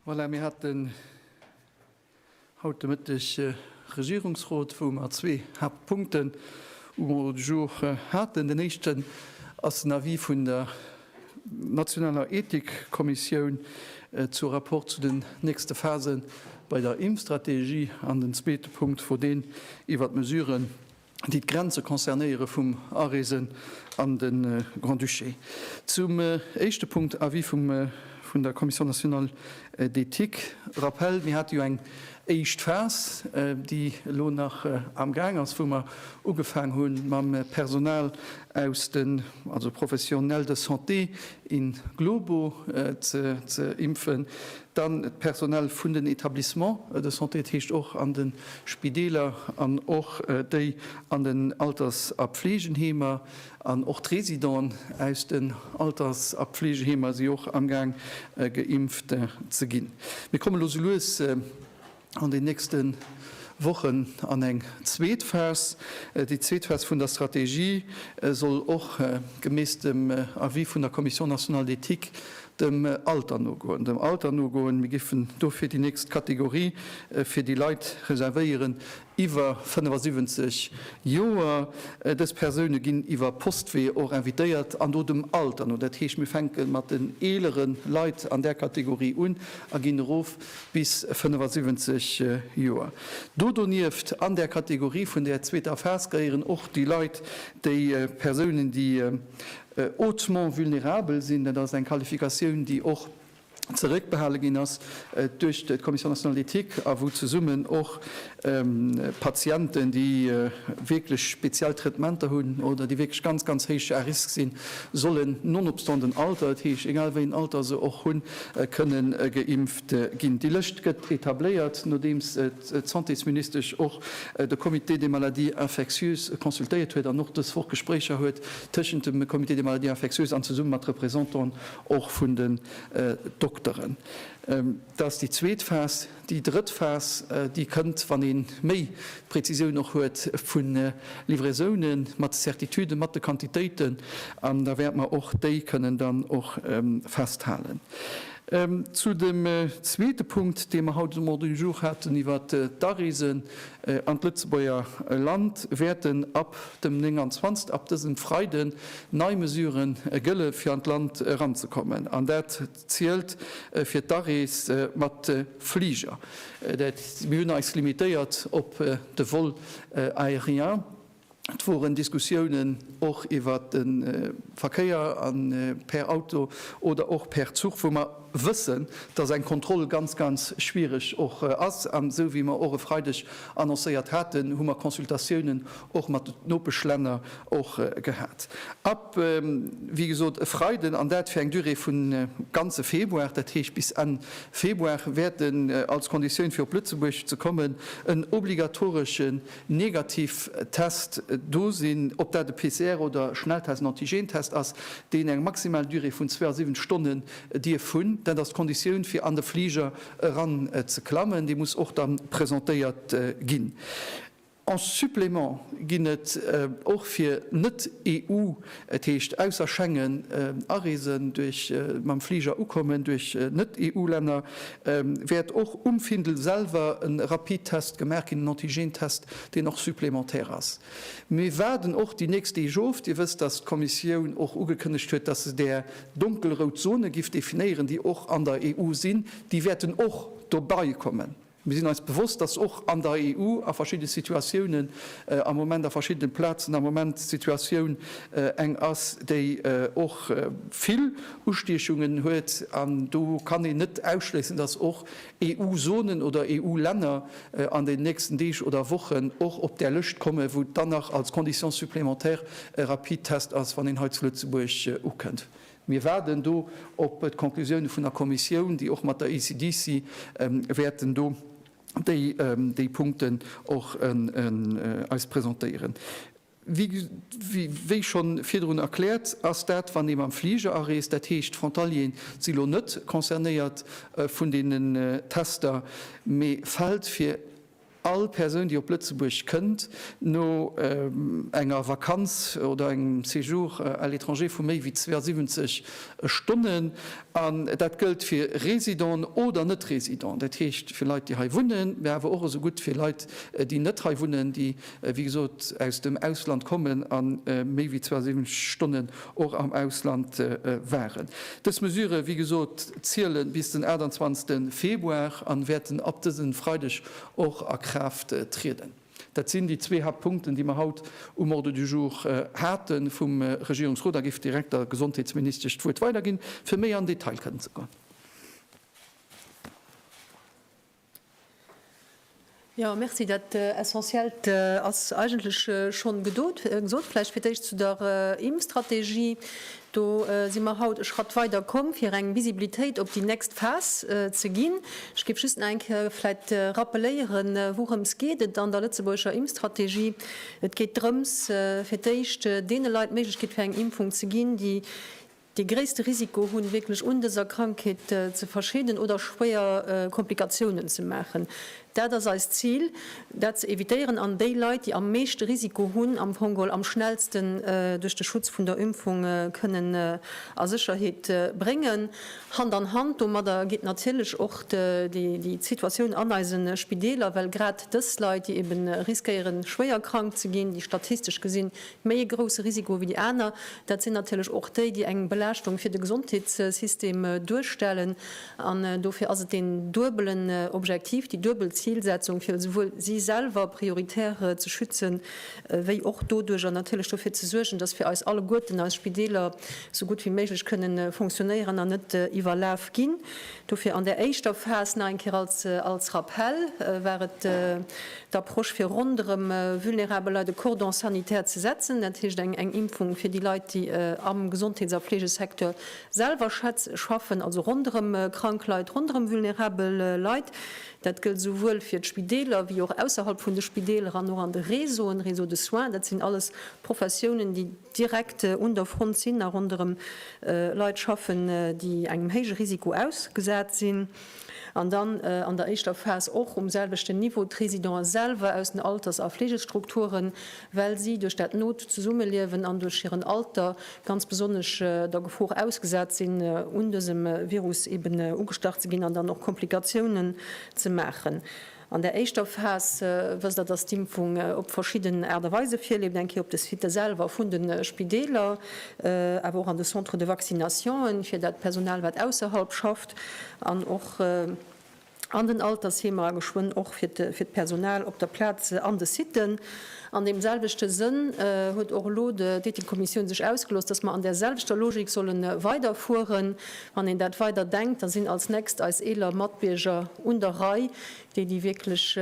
Voilà, mir hatten haut de Mëtteg äh, Regierungsrot, wou mer zwee Haaptpunkten um Ordre du jour äh, haten. Den éischten ass den Avis vun der nationaler Ethikkommissioun äh, zu rapport zu den nächste Phasen bei der Impfstrategie an den zweete Punkt wor deen iwwert d'Mesuren, déi d'Grenze concernéiere vum Areese an de Grand-Duché. Zum éischte Punkt, Avis vun der Commission nationale d'éthique. Rappel, Mir hate jo eng éischt Phas, déi elo nach amgaang ass, wou mer ugefaang hu mam Personal aus den, also Professionnels de santé in globo ze impfen. Dann d'Personal vun den Etablissements de santé, dat heescht och an de Spideeler an och déi an den Alters a Pfleegenheemer. An och d'Residenten aus den Alters a Pfleegeheemer si och amgaang geimpft ze ginn. Mir kommen elo esou lues. an den nächste Wochen an eng zweet Phas. Déi zweet Phas vun der Strategie soll och gemäss dem Avis vun der Commission nationale d'éthique dem Alter nogoen. Dem Alter nogoen. Mir géifen dofir déi nächst Kategorie fir déi Leit reservéieren iwwer 75 Joer. Dës Persoune ginn iwwer Postwee och invitéiert an do dem Alter no. Dat heescht, mir fänke mat den eelere Leit an där Kategorie un a ginn erof bis 75 Joer. Do donieft an där Kategorie vun där zweeter Phas gehéieren och déi Leit, déi Persounen, déi hautement vulnérabel sinn. Dat ass eng Qualifikatioun, déi och zeréckbehale ginn ass duerch d'Commission nationale d'éthique a wou zesummen och Patienten, déi wierklech speziell Traitementer hunn oder déi wierklech ganz, ganz héich à risque sinn, sollen nonobstant den Alter, dat heescht, egal wéi en Alter se och hunn, kënne geimpft ginn. Déi Lëscht gëtt etabléiert, nodeems d'Santésministesch och de Comité des maladies infectieuses consultéiert huet an och dës Woch Gespréicher huet tëschent dem Comité des maladies infectieuses an zesumme mat Representanten och vun den Dokteren. Dat ass déi zweet Phas. Déi drëtt Phas, déi kënnt, wann ee méi d'Präzisioun och huet vu Livraisone mat de Certituden, mat de Quantitéiten, an da wäerte mer och déi kënnen dann och festhalen. Zu dem zweete Punkt, dee mer haut um Ordre du jour haten iwwert d'Areesen an d'Lëtzebuerger Land, wäerten ab dem 29, ab dësem Freiden, nei Mesuren gëlle fir an d'Land eranzekommen. An dat zielt fir d'Arees mat de Fliger. Dat mir hunn eis limitéiert op de Vol aérien. Et woren Diskussiounen och iwwert de Verkéier an per Auto oder och per Zuch, wou mer wëssen, dass eng Kontroll ganz, ganz schwierig och ass. An esou wéi mer och e Freideg annoncéiert haten, hu mer Consultatiounen och mat de Nopeschlänner och gehat. wéi gesot, e Freiden, an dat fir eng Durée vun ganze Februar, dat heescht bis Enn Februar, wäert en als Konditioun, fir op Lëtzebuerg ze kommen, en obligatoreschen Negativtest do sinn, ob dat e PCR oder Schnelltest, en Antigentest ass, deen eng maximal Durée vun 72 Stonne dierf hunn. Dat ass d'Konditioun, fir an de Fliger eranzeklammen. Dee muss och da presentéiert ginn. En supplément ginn et och fir Net-EU, et heescht ausser Schengen, Areesen duerch mam Fliger ukommen duerch Net-EU-Länner, wäert och um Findel selwer e Rapidtest gemaach ginn, en Antigentest, deen och supplémentaire ass. Mir waarden och déi nächst Deeg of. Dir wësst, dass d'Kommissioun och ugekënnegt huet, dass se där donkelrout Zone giff definéieren, déi och an der EU sinn, déi wäerten och dobeikommen. Mir sinn eis bewosst, dass och an der EU a verschiddene Situatiounen am Moment, a verschiddene Plazen am Moment d'Situatioun eng ass, déi och vill Ustiechungen huet. An do kann een net ausschléissen, dass och EU-Zonen oder EU-Länner an den nächsten Deeg oder Wochen och op där Lëscht kommen, wou dann nach als Condition supplémentaire e Rapidtest ass, wann een hei zu Lëtzebuerg ukënnt. Mir waarden do op d'Conclusioune vun der Kommissioun, déi och mat der ECDC wäerten do déi Punkten och eis presentéieren. Wéi schonn virdrun erkläert, ass dat, wann ee mam Fliger areest, dat heescht d'Frontalieren si lo net concernéiert vun deenen Tester, mee fält fir, All Persoun, déi op Lëtzebuerg kënnt, no enger Vakanz oder engem Séjour à l'étranger vu méi wéi 72 Stonnen, an dat gëllt fir Résidenten oder Net-Résidenten, dat heescht fir Leit, déi hei wunnen, mä awer och esou gutt fir Leit, déi net hei wunnen, déi, wéi gesot, aus dem Ausland kommen a méi wéi 72 Stonnen och am Ausland waren. Dës Mesure, wéi gesot, ziele bis den 28 Februar an wäerten ab dësen Freideg och a Kraaft trieden. Dat sinn déi zwee Haaptpunkten, déi mer haut um Ordre du jour hate vum Regierungsrot. A géif direkt der Gesondheetsministesch d'Wuert weiderginn, fir méi an Detail kënnen ze goen. Jo, merci. Dat Essentiellt ass eigentlech schonn gedot, gesot. Vläicht fir d'éischt zu der Impfstrategie. Do si mer haut e Schratt weider komm, fir eng Visibilitéit op déi nächst Phas ze ginn. Ech géif just nach eng Kéier vläicht rappeléieren, wourëms geet et an der lëtzebuergescher Impfstrategie. Et geet drëms, fir d'éischt deene Leit d'Méiglechkeet fir eng Impfung ze ginn, déi Dee gréisste Risiko hunn, wierklech un dëser Krankheet ze verscheeden oder schwéier Komplikatiounen ze maachen. Dat ass eist Zil, dat ze evitéieren an déi Leit, déi am meeschte Risiko hunn, am Fongol am schnellsten duerch de Schutz vun der Impfung kënnen a Sécherheet bréngen. Hand an Hand domadder geet natierlech och déi Situatioun an eise Spideeler, well grad dës Leit, déi ebe riskéieren, schwéier krank ze ginn, déi statistesch gesinn Méi e grousse Risiko wéi déi aner, dat sinn natierlech och déi, déi eng Belaaschtung fir de Gesondheetssystem duerstellen. An dofir ass et deen duebelen Objektiv, déi duebel Zilsetzung, fir esouwuel si selwer prioritär ze schützen, wéi och doduerjer natierlech dofir ze suergen, datt fir eis alleguerten eis Spideeler esou gutt wéi méiglech kënnen funktionéieren an net iwwerlaf ginn. Dofir an där éischter Phas, nach eng Kéier als Rappell, war et d'Approche fir ronderëm vulnerabel Leit e Cordon sanitaire ze setzen, dat heescht eng Impfung fir déi Leit, déi am Gesondheets a Fleegesecteur selwer schaffen, also ronderëm krank Leit, ronderëm vulnerabel Leit. Dat gëllt esouwuel fir d'Spideeler wéi och ausserhalb vun de Spideeler an och an de Réseauen, Réseau de soins. Dat sinn alles Professiounen, déi direkt un der Front sinn a ronderëm Leit schaffen, déi engem héije Risiko ausgesat sinn. An dann an der éischter Phas och um selwechten Niveau d'Résidenten selwer aus den Alters a Fleegestrukturen, well si duerch dat not Zesummeliewen an duerch hiren Alter ganz besonnesch der Gefor ausgesat sinn, un dësem Virus eben ugestach ze ginn an dann och Komplikatiounen ze maachen. An der éischter Phas, wësst Der, dass d'Impfung op verschidden Aart a Weise virleeft, eng Kéier op de Sitë selwer vun de Spideeler, awer och an de Centres de vaccinationen, fir dat Personal, wat ausserhalb schafft, an och an den Altersheemer, a geschwënn och fir d'Personal op der Plaz an de Sitë. An deem selwechte Sënn huet och elo d'Ethikkommissioun sech ausgelooss, dass mer an där selwechter Logik solle weiderfueren, Wann een dat weider denkt, da sinn als nächst eis eeler Matbierger un der Rei, déi, déi wierklech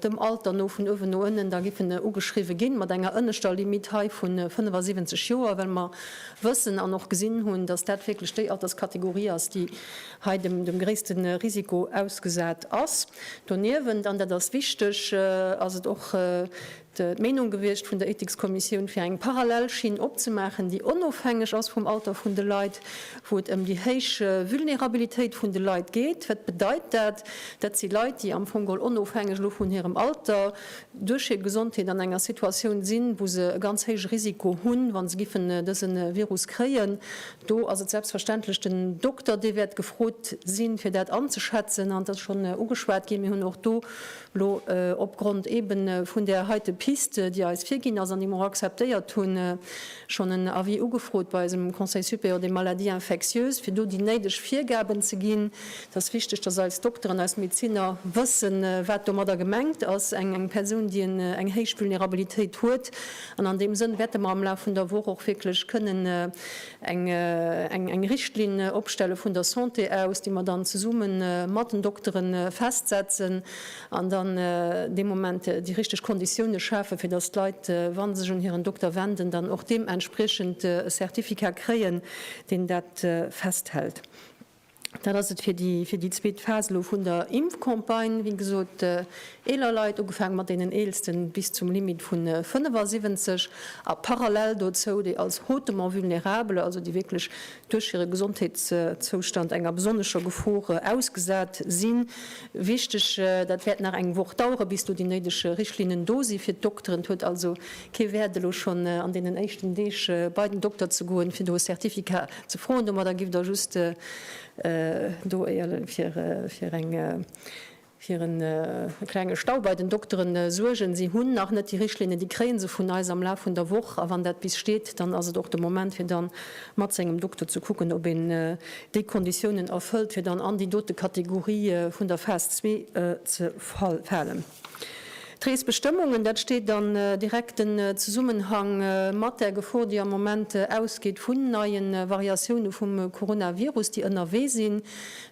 dem Alter no vun uewen no ënnen da giffen ugeschriwwe ginn, mat enger ënneschter Limitt hei vu 75 Joer, well mer wëssen an och gesinn hunn, dass dat wierklech déi Alterskategorie ass, déi hei dem gréisste Risiko ausgesat ass. Doniewent, an dat ass wichteg, ass et och d'Meenung gewiescht vun der Ethikskommissioun, fir eng parallel Schinn opzemaachen, déi onofhängeg ass vum Alter vun de Leit, wou et ëm déi héich Vulnerabilitéit vun de Leit geet. Wat bedeit dat? Dat si Leit, déi am Fong geholl onofhängeg elo vun hirem Alter duerch hir Gesondheet an enger Situatioun sinn, wou se e ganz héije Risiko hunn, wa se giffen dëse Virus kréien. Do ass et selbstverständlech den Dokter, dee wäert gefrot sinn, fir dat anzeschätzen. An et ass schonn ugeschwat ginn, mir hunn och do Lo, opgrond eben vun där heite Piste, déi eis virginn ass an déi mer och akzeptéiert hunn, schonn en Avis ugefrot bei eisem Conseil supérieur des maladies infectieuses, fir do déi néideg Virgaben ze ginn. Et ass wichteg, dass eis Dokteren, eis Medeziner wëssen, wat domadder gemengt ass, eng Persoun, déi eng héich Vulnerabilitéit huet. An an deem Sënn wäerte mer am Laf vun der Woch och wierklech kënnen eng Richtlinn opstelle vun der Santé aus, déi mer dann zesumme mat den Doktere festsetzen an dann dee Moment déi richteg Konditioune schafe fir datt d'Leit, wa se sech un hiren Dokter wenden, dann och deementspriechend e Certificat kréien, deen dat festhält. Dat ass et fir déi zweet Phas elo vun der Impfcampagne. Wéi gesot, eeler Leit, ugefaangen mat deenen Eelsten bis zum Limit vu 75, a parallel dozou déi als hautement vulnérable, also déi wierklech duerch hire Gesondheetszoustand enger besonnescher Gefor ausgesat sinn. Wichteg, dat wäert nach eng Woch daueren, bis do déi néideg Richtlinnen do sinn fir d'Dokteren. Et huet also kee Wäert elo schonn an deenen éischten Deeg bei den Dokter ze goen, fir do e Certificat Ze froen. Domadder giff Der just do fir e klenge Stau bei den Dokteren suergen. Si hunn nach net déi Richtlinnen. Déi kréie se vun eis am Laf vun der Woch. A wann dat bis steet, dann ass et och de Moment, fir da mat sengem Dokter ze kucken, ob een déi Konditiounen erfëllt, fir dann an déi dote Kategorie vun der Phas zwee ze falen. D'Reesbestëmmungen, dat steet an direkten Zesummenhang mat der Gefor, déi am Moment ausgeet vun neie Variatioune vum Coronavirus, déi ënnerwee sinn.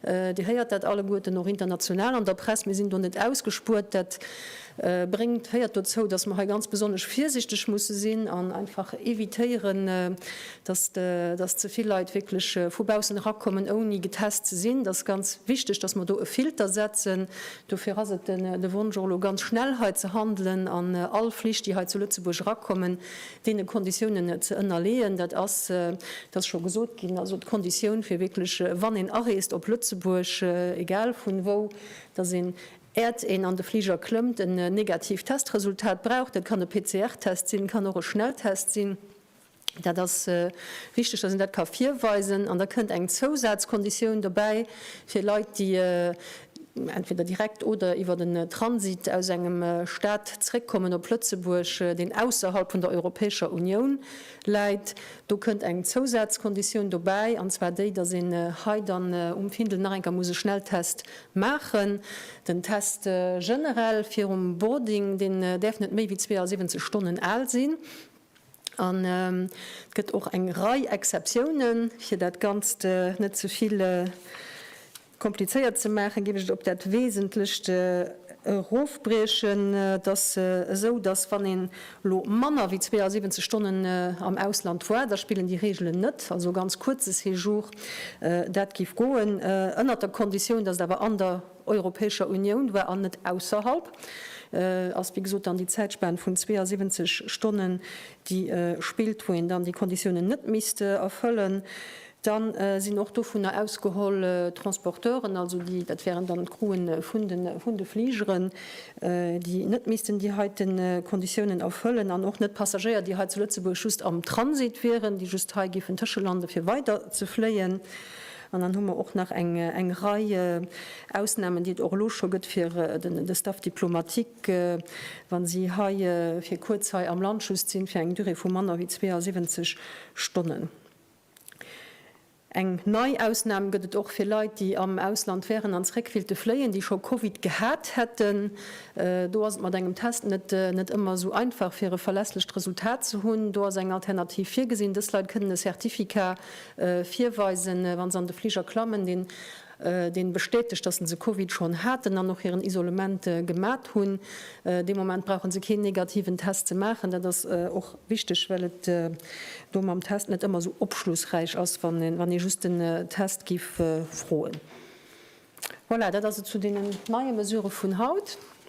Dir héiert dat alleguerten och international an der Press. Mir sinn do net ausgespuert. Dat bréngt, féiert dozou, datt mer hei ganz besonnesch virsichteg musse sinn an einfach evitéieren, datt ze vill Leit wierklech vu baussen erakommen, ouni getest ze sinn. Dat ass ganz wichteg, datt mer do e Filter setzen. Dofir ass et de Wonsch, och elo ganz schnell hei ze handelen an all Flich, déi hei zu Lëtzebuerg erakommen, deene Konditiounen ze ënnerleeën. Dat ass, et ass scho gesot ginn, also d'Konditioun, fir wierklech, wann een areest op Lëtzebuerg, egal vun wou, dass een, äert een an de Fliger klëmmt, en negatiivt Testresultat brauch. Dat kann e PCR-Test sinn, kann och e Schnelltest sinn. Dat ass wichteg, dass een dat ka virweisen. An da kënnt eng Zousazkonditioun dobäi fir Leit, déi entweder direkt oder iwwer den Transit aus engem Stat zréckkommen op Lëtzebuerg, deen ausserhalb vun der Europäescher Unioun läit. Do kënnt eng Zousazkonditioun dobäi, an zwar déi, dass een hei dann um Findel nach eng Kéier muss e Schnelltest maachen. Den Test generell virum Boarding, deen däerf net méi wéi 72 Stonnen al sinn. An et gëtt och eng Rei Exceptiounen. Fir dat Ganzt net ze vill komplizéiert ze maachen, géif ech et op dat Wesentlecht erofbriechen. Et ass esou, datt wann een elo manner wéi 72 Stonnen am Ausland war, da spillen déi Reegelen net. Also e ganz kuerze Séjour, dat géif goen, ënnert der Konditioun, datt et awer an der. Europäescher Unioun war an net ausserhalb, ass wéi gesot dann déi Zäitspan vun 72 Stonnen, déi spillt, wou een dann déi Konditiounen net misst erfëllen. Da sinn och dovunner ausgeholl d'Transporteuren, also déi, dat wären dann d'Crewen vun de Fligeren, déi net missten déi heite Konditiounen erfëllen an och net d'Passagéier, déi hei zu Lëtzebuerg just am Transit wieren, déi just hei géifen tëschelande fir weider ze fléien. An dann hu mer och nach eng Rei Ausnahmen, déi et och elo scho gëtt fir de Staff diplomatique, wa si hei fir kuerz hei am Land just sinn, fir eng Durée vu manner wéi 72 Stonnen. Eng nei Ausnahm gëtt et och fir Leit, déi am Ausland wären an zréck willte fléien, déi scho Covid gehat hätten. Do ass et mat engem Test net ëmmer esou einfach, fir e verlässlecht Resultat ze hunn. Do ass eng Alternativ virgesinn, Dës Leit kënnen e Certificat virweisen, wa se an de Fliger klammen, deen deen bestätegt, dass se Covid schonn haten an och hiren Isolement gemat hunn. Dee Moment brauche se keen negativen Test ze maachen. Dat ass och wichteg, well et do mam Test net ëmmer esou opschlussräich ass, wann ee wann ee just den Test giff froen. Voilà, dat ass et zu deenen neie Mesure vun haut.